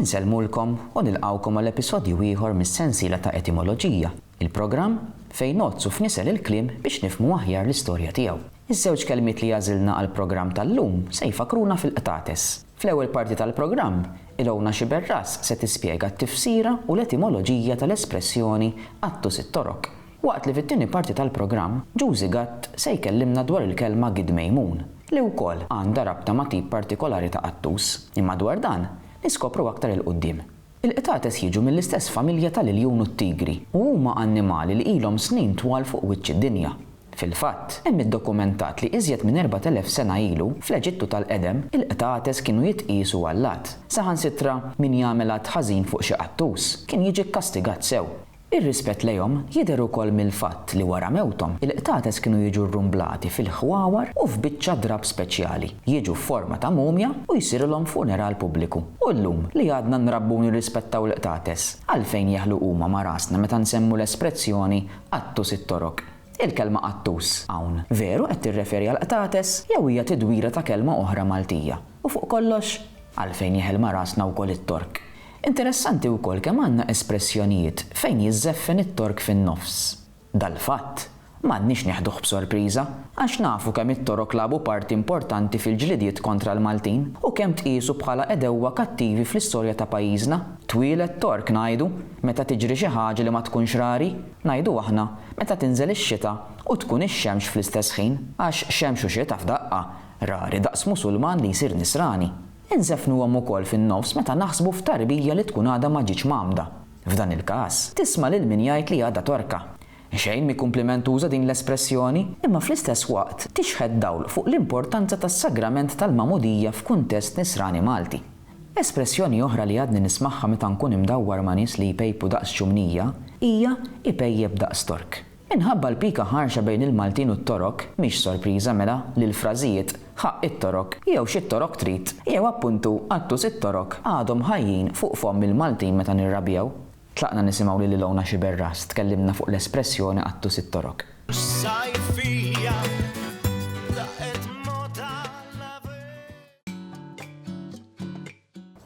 Insellmulkom u nilqgħukom għal episodju ieħor mis-sensiela ta' Etimoloġija, il-programm fejn ngħoddsu f'nisel il-kliem biex nifhmu aħjar l-istorja tiegħu. Iż-żewġ kelmiet li għażilna għall-programm tal-lum se jfakkruna fil-qtates. Fl-ewwel parti tal-programm, Ilona Sciberras se tispjega t-tifsira u l-etimoloġija tal-espressjoni Attus it-Torok. Waqt li fit-tieni parti tal-programm, Ġużi Gatt se jkellimna dwar il-kelma Gid Mejmun, li wkoll għandha rabta ma' tip partikolari ta' qattus, imma dwar dan niskopru aktar 'il quddiem. Il-qtates jiġu mill-istess familja tal-iljun u t-tigri u huma annimali li ilhom snin twal fuq wiċċ id-dinja. Fil-fatt, hemm iddokumentat li iżjed minn 4,000 sena ilu, fl-Eġittu tal-qedem, il-qtates kienu jitqiesu allat. Saħansitra min jagħmel att ħażin fuq xi qattus, kien jiġi kkastigat sew. Ir-rispett lejhom jidher ukoll mill-fatt li wara mewthom, il-qtates kienu jiġu rrumblati fil-ħwawar u f'biċċa drapp speċjali, jiġu f'forma ta' mumja u jsirulhom funeral pubbliku. U llum, li għadna nrabbu u nirrispettaw l-qtates, għalfejn jeħlu huma ma' rasna meta nsemmu l-esprezzjoni qattus it-toroq? Il-kelma qattus, hawn, veru qed tirreferi għall-qtates jew hija tidwira ta' kelma oħra Maltija? U fuq kollox, għalfejn jeħel ma' rasna wkoll it-torq? Interessanti wkoll kemm għandna espressjonijiet fejn jiżżeffen it-tork fin-nofs. Dal-fatt, m'għandniex neħduh b'sorpriża, għax nafu kemm it-Torok lagħbu parti importanti fil-ġlidiet kontra l-Maltin u kemm tqiesu bħala għedewwa kattivi fl-istorja ta' pajjiżna. Twieled tork ngħidu meta tiġri xi ħaġa li ma tkunx rari, ngħidu aħna meta tinżel ix-xita u tkun ix-xemx fl-istess ħin, għax xemx u xita f'daqqa, rari daqs Musulman li jsir Nisrani. Inżeffnuhom ukoll fin-nofs meta naħsbu f'tarbija li tkun għadha ma ġietx mgħammda. F'dan il-każ, tisma' lil min jgħid li għadha torka. Xejn mhi kumplimentuża din l-espressjoni, imma fl-istess waqt tixħet dawl fuq l-importanza tas-sagrament tal-magħmudija f'kuntest nisrani Malti. Espressjoni oħra li għadni nismagħha meta nkun imdawwar ma' nies li jpejpu daqs ċumnija hija ipejjep daqs Tork. Minħabba l-pika ħarxa bejn il-Maltin u t-Torok, mhix sorpriża, mela, li l-frażijiet Ħa it-Torok jew X'it-Torok trid? jew appuntu Attus it-Torok għadhom ħajjin fuq fomm il-Maltin meta nirrabjaw. Tlaqna nisimgħu lil Ilona Sciberras tkellimna fuq l-espressjoni Attus it-Torok.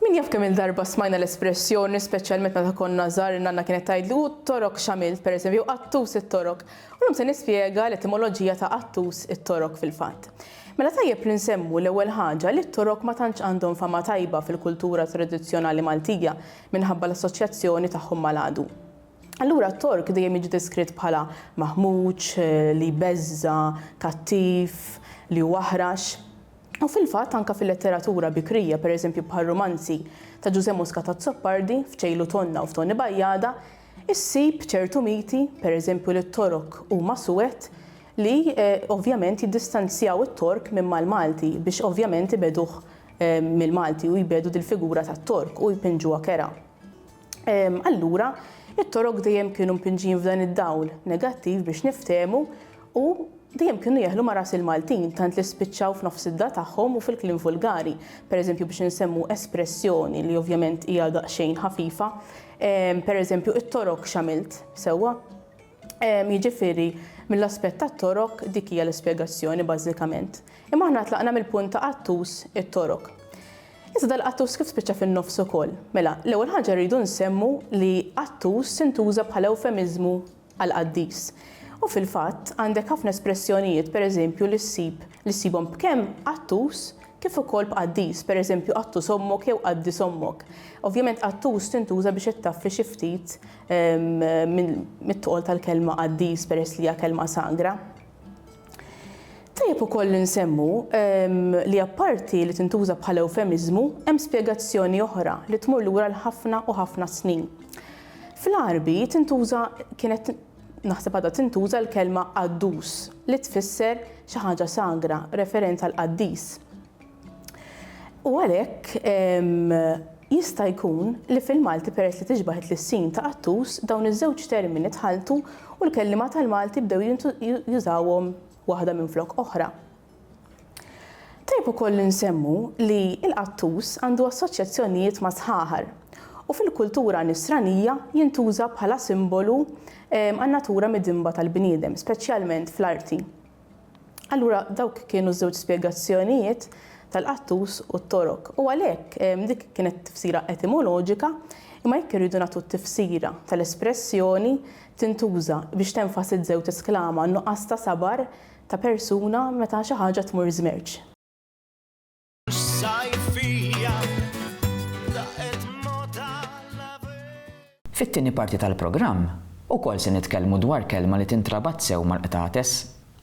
Min jaf kemm-il darba smajna l-espressjoni, speċjalment meta konna żgħar li nanna kienet tgħidli u t-torok x'għamilt, pereżempju, jew qattus it-torok. U llum se nispjega l-etimoloġija ta' qattus it-torok fil-fatt. Mela tajjeb li nsemmu, l-ewwel ħaġa, li t-torok ma tantx għandhom fama tajba fil-kultura tradizzjonali Maltija minħabba l-assoċjazzjoni tagħhom mal-għadu. Allura t-tork dejjem jiġi deskritt bħala maħmuġ, li jbeżża', kattiv, li hu aħrax. U fil-fatt, anke fil-letteratura bikrija, pereżempju bħar-rumanzi ta' Ġużè Moscat Azzopardi, f'Ċejlu Tonna u f'Toni Bajjada, issib ċertu miti, pereżempju li t-Torok huma suwed, li ovvjament jiddistanzjaw it-Tork minn mal-Malti biex ovvjament ibegħduh mill-Malti u jbiegħdu dil-figura tat-Tork u jpinġuha kerha. Allura, it-torok dejjem kienu mpinġin f'dan id-dawl negattiv biex niftehmu u dejjem kienu jeħlu ma' ras il-Maltin tant li spiċċaw f'nofs id-da tagħhom u fil-kliem vulgari. Pereżempju biex insemmu espressjoni li ovvjament hija daqsxejn ħafifa, pereżempju it-torok x'għamilt, sewwa? Jiġifieri, mill-aspett tat-torok dik hija l-ispjegazzjoni bażikament. Imma aħna tlaqna mill-punt ta' qattus it-torok. Issa dal-qattus kif spiċċa fin-nofs ukoll? Mela, l-ewwel ħaġa rridu nsemmu li qattus intuża bħala ewfemiżmu għal qaddis. U fil-fatt, għandek ħafna espressjonijiet, pereżempju, li ssib li ssibhom b'kemm qattus kif ukoll b'qaddis, pereżempju qattus ommok jew qaddis ommok. Ovvjament qattus tintuża biex ittaffi xi ftit mit-tqol tal-kelma qaddis peress li hija kelma sagra. Tajjeb ukoll li nsemmu li apparti li tintuża bħala ewfemiżmu, hemm spjegazzjoni oħra li tmur lura l ħafna u ħafna snin. Fl-Għarbi tintuża kienet naħseb għadha tintuża l-kelma qaddus li tfisser xi ħaġa sagra, referenza l-qaddis. U għalhekk jista' jkun li fil-Malti peress li tixbah it-tlissin ta' qattus, dawn iż-żewġ termini tħalltu u l-kelliema tal-Malti bdew jużawhom waħda minflok oħra. Tajjeb ukoll li nsemmu li l-qattus għandu assoċjazzjonijiet mas-sħaħar u fil-kultura Nisranija jintuża bħala simbolu għan-natura midinba tal-bniedem, speċjalment fl-arti. Allura dawk kienu żewġ spjegazzjonijiet tal-qattus u t-torok u għalhekk dik kienet tifsira etimoloġika imma jekk irridu nagħtu t-tifsira tal-espressjoni tintuża biex tenfasizzew tesklama n-nuqqas ta' sabar ta' persuna meta xi ħaġa tmur żmerċ. Fit-tieni parti tal-programm, ukoll se nitkellmu dwar kelma li tintrabat sew mal-qtates.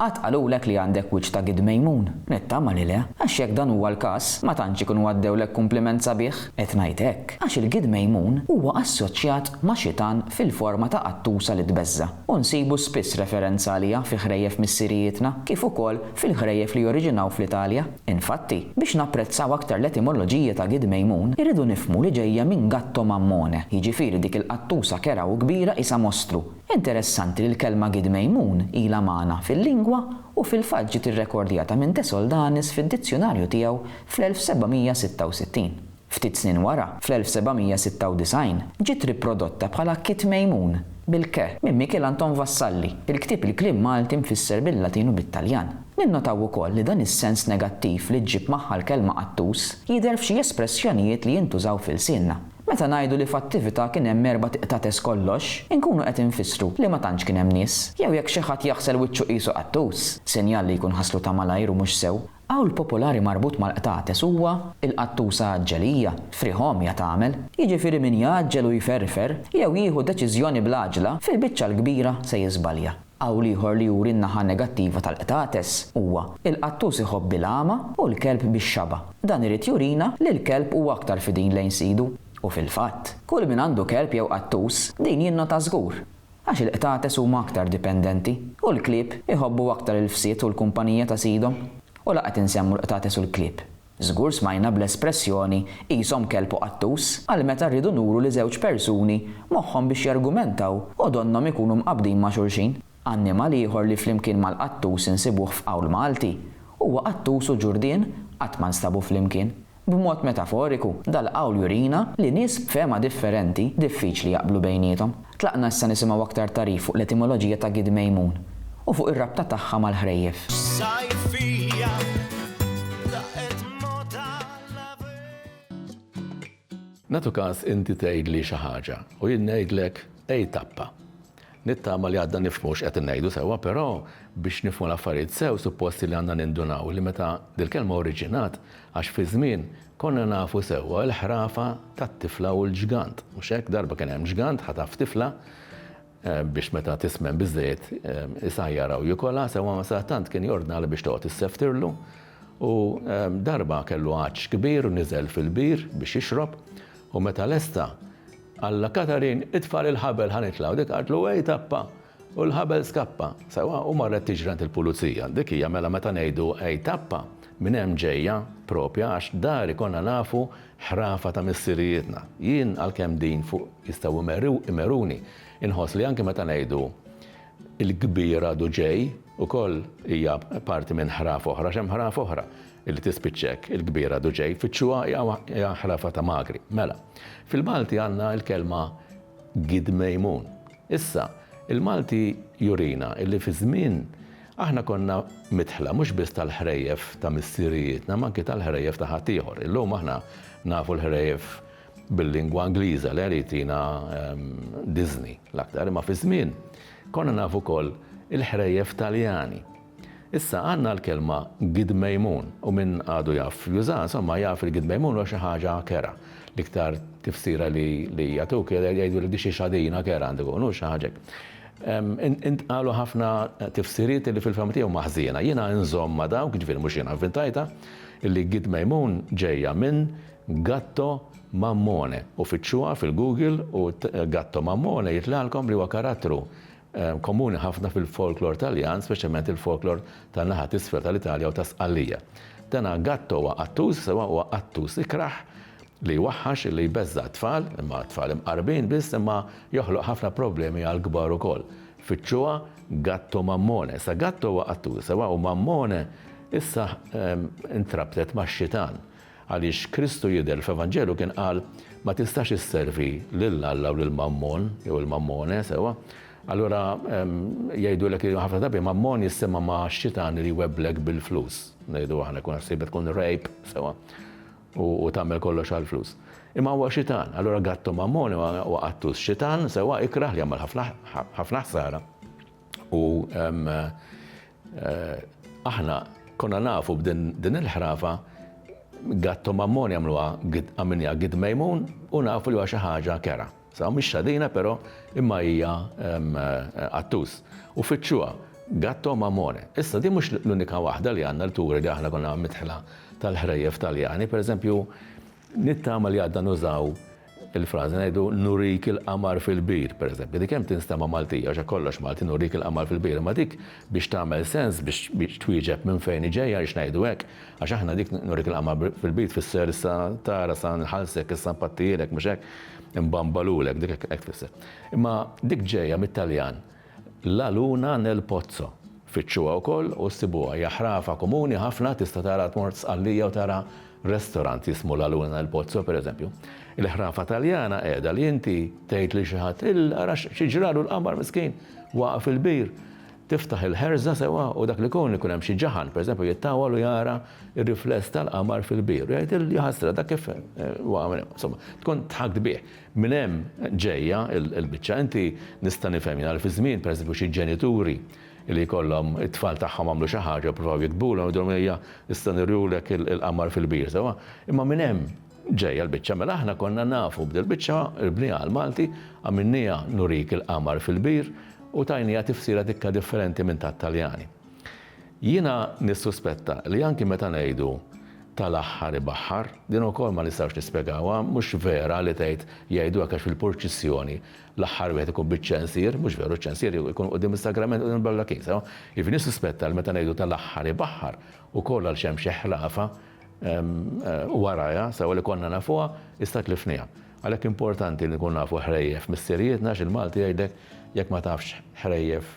Qatt qalulek li għandek wiċċ ta' Gid Mejmun? Nittama li le, għax jekk dan huwa l-każ, ma tantx ikunu għaddewlek kumpliment sabiħ. Qed ngħid hekk, għax il-Gid Mejmun huwa assoċjat ma' xitan fil-forma ta' qattusa li tbeżża', u nsibu spiss referenza għaliha fi ħrejjef missirijietna, kif ukoll fil-ħrejjef li joriġinaw fl-Italja. Infatti, biex napprezzaw aktar l-etimoloġija ta' Gid Mejmun, irridu nifhmu li ġejja minn gatto mammone, jiġifieri dik il-qattusa kerha u kbira qisha mostru. Interessanti li l-kelma Gid Mejmun ilha magħna fil-lingwa u fil-fatt ġiet irrekordjata minn De Soldanis fid-dizzjunarju tiegħu fl-1766. Ftit snin wara, fl-1796, ġiet riprodotta bħala Kit Mejmun, bil ke, minn Mikiel Anton Vassalli, il-ktieb Il-Kliem Malti mfisser bil-Latin u bit-Taljan. Ninnotaw ukoll li dan is-sens negattiv li ġġib magħha l-kelma qattus jidher f'xi espressjonijiet li jintużaw f'ilsienna. Meta ngħidu li f'attività kien hemm erbat iqtates kollox, inkunu qed infissru li ma tantx kien hemm nies. Jew jekk xi ħadd jaħsel wiċċu qisu qattus, sinjal li jkun ħaslu ta' malajr u mhux sew. Qawl popolari marbut mal-qtates huwa, Il-qattusa għaġġelija, frieħ għomja tagħmel. Jiġifieri min jgħaġġel u jferfer, jew jieħu deċiżjoni bl-għaġla, fil-biċċa l-kbira se jiżbalja. Qawl ieħor li juri n-naħa negattiva tal-qtates huwa, Il-qattus iħobb il-għama u l-kelb bix-xaba. Dan irid jurina li l-kelb huwa aktar fidin lejn sidu. U fil-fatt, kull min għandu kelb jew qattus, din jinnota żgur. Għax il-qtates huma aktar dipendenti, u l-klieb iħobbu aktar il-fsid u l-kumpanija ta' sidhom. U la qed insemmu l-qtates u l-klieb. Żgur smajna bl-espressjoni qishom kelb u qattus għal meta rridu nuru li żewġ persuni moħħhom biex jargumentaw u donnhom ikunu mqabbdin ma' xulxin. Annimal ieħor li flimkien mal-qattus insibuh f'qawl Malti huwa qattus u ġurdien qatt ma nstabu flimkien. B'mod metaforiku, dal-qawl jurina li nies b'fehma differenti diffiċli jaqblu bejniethom. Tlaqna issa nisimgħu aktar tagħrif fuq l-etimoloġija ta' Gid Mejmun u fuq ir-rabta tagħha mal-ħrejjef. Nagħtu każ inti tgħidli xi ħaġa u jien ngħidlek, Ej tappa! Nittama li għadna nifhmu x'qed ngħidu sewwa, però biex nifhmu l-affarijiet sew suppost li għandna nindunaw li meta dil-kelma oriġinat, għax fiż-żmien, konna nafu sewwa l-ħrafa tat-tifla u l-ġgant, mhux hekk? Darba kien hemm ġgant ħataf tifla biex meta tismen biżżejjed isajjarha u jikolha, sewwa ma sadattant kien jordnalha biex toqgħod isseftirlu u darba kellu għatx kbir u niżel fil-bir biex jixrob u meta lesta, Alla Katarin, itfa' lill-ħabel ħa nitlgħu. Dik qaltlu ej tappa u l-ħabel skappa. Sewwa u marret tiġri għand il-pulizija. Dik hija mela meta ngħidu ej tappa, minn hemm ġejja, propja għax dari konna nafu ħrafa ta' missirijietna. Jien għalkemm din fuq jistgħu imeruni, inħoss li anki meta ngħidu il-kbir għadu ġej, ukoll hija parti minn ħraf oħra għax hemm ħraf oħra. Illi tispiċċa hekk, il-kbira Duġej jfittxuha hija ħrafa ta' magri. Mela, fil-Malti għandna l-kelma gidmejmun. Issa, il-Malti jurina illi fi żmien aħna konna midħla mhux biss tal-ħrejjef ta' missirijietna ma anki tal-ħrejjef ta' ħaddieħor. Illum aħna nafu l-ħrejjef bil-lingwa Ingliża li irid tina Disney l-aktar, imma fi żmien konna nafu wkoll il-ħrejjef Taljani. Issa għandna l-kelma gidmejmun u min għadu jaf jużaha, insomma, jaf li gidmejmun huwa xi ħaġa kerha. L-iktar tifsira li li jagħtuk hija jgħidulek di xi xadina kerha għandu jkun, hu xi ħaġa hekk. Intqalu ħafna tifsiriet li fil-fehma tiegħi huma ħżiena. Jiena inżomm ma' dawk, jiġifieri mhux jiena vvintajtha, li gidmejmun ġejja minn gatto mammone. U fittxuha fil-Google u gatto mammone jitlgħalkom li huwa karattru komuni ħafna fil-folklor Taljan, speċjalment il-folklor tan-naħa t'isfel tal-Italja u ta' Sqallija. Dan gatto huwa qattus, sewwa huwa qattus ikrah li jwaħħax, li jbeżża' t-tfal, imma t-tfal imqarbin biss, imma joħloq ħafna problemi għall-kbar ukoll. Fittxuha gatto mammone. Issa gatto huwa qattus, sewwa u mammone issa intrabtet max-xitan. Għaliex Kristu jidher fl-Evanġelju kien qal, Ma tistax isservi lil Alla u lil Mammon, jew il-Mammone, sewwa? Allura jgħidulek li ħafna drabi Mammon jissema' ma' xitan li jwebblek bil-flus, ngħidu aħna, jkun ħsiebek tkun rgħib, sewwa, u tagħmel kollox għall-flus. Imma huwa xitan, allura gatto Mammone huwa qattus, xitan, sewwa, ikrah li jagħmel ħafna ħsara u Aħna konna nafu b'din il-ħrafa Gatto Mammon jagħmluha għamilniha Gid Mejmun u nafu li huwa xi ħaġa kerha. Sawa mhix xadina però imma hija qattus. U fittxuha, Gatto Mammone. Issa din mhux l-unika waħda li għandna li turi li aħna konna midħla tal-ħrejjef Taljani. Pereżempju, Nittama li għadna nużaw il-frażi, ngħidu nurik il-qamar fil-bir, pereżempju. Dik kemm tinstema' Maltija, għax hekk kollox Malti, nurik il-qamar fil-bir, imma dik biex tagħmel sens, biex twieġeb minn fejn hi ġejja għaliex ngħidu hekk, għax aħna dik nurik il-qamar fil-bir tfisser issa tara sa nħallsek, issa npattihielek, mhux hekk? Inbambalulek, dik hekk tfisser. Imma dik ġejja mit-Taljan. La luna nel pozzo. Fittxuha wkoll u ssibuha. Hija ħrafa komuni ħafna, tista' tara tmur Sqallija u tara restorant jismu La luna nel pozzo pereżempju. Il-ħrafa Taljana qiegħda li inti tgħid lil xi ħadd, il ara xi ġralu l-qamar miskin, waqa' fil-bir. Tiftaħ il-ħerża sewwa u dak li jkun ikun hemm xi ġaħan pereżempju jittawwal u jara r-rifless tal-qamar fil-bir u jgħid il jaħasra dak kif waqa' minn hemm. Insomma, tkun dħakt bih. Minn hemm ġejja l-biċċa. Inti nista' nifhemha li fi żmien, per eżempju, xi ġenituri li jkollhom it-tfal tagħhom għamlu xi ħaġa, ippruvaw jigdbulhom, jgħidulhom ejja issa nurulek il-qamar fil-bir, sewwa? Imma minn hemm ġejja l-biċċa. Mela aħna konna nafu b'dil-biċċa, irbniha għall-Malti, għamilniha nurik il-qamar fil-bir u tajniha tifsira dikka differenti minn tat-Taljani. Jiena nissuspetta li anki meta ngħidu tal-aħħar ibaħħar, din ukoll ma nistgħux nispjegawha, mhux vera li tgħid jgħidu hekk għax fil-purċissjoni l-aħħar wieħed ikun biċ-ċensier, mhux veru ċ-ċensier ikun quddiem is-sagrament quddiem il-ballakin, sew? Jiġifieri nissuspetta li meta ngħidu tal-aħħar ibaħħar ukoll għaliex hemm xi ħlafa warajha, sew li konna nafuha issa tlifniha. Għalhekk importanti li nkunu nafu ħrejjef missirijietna għax il-Malti jgħidlek jekk ma tafx ħrejjef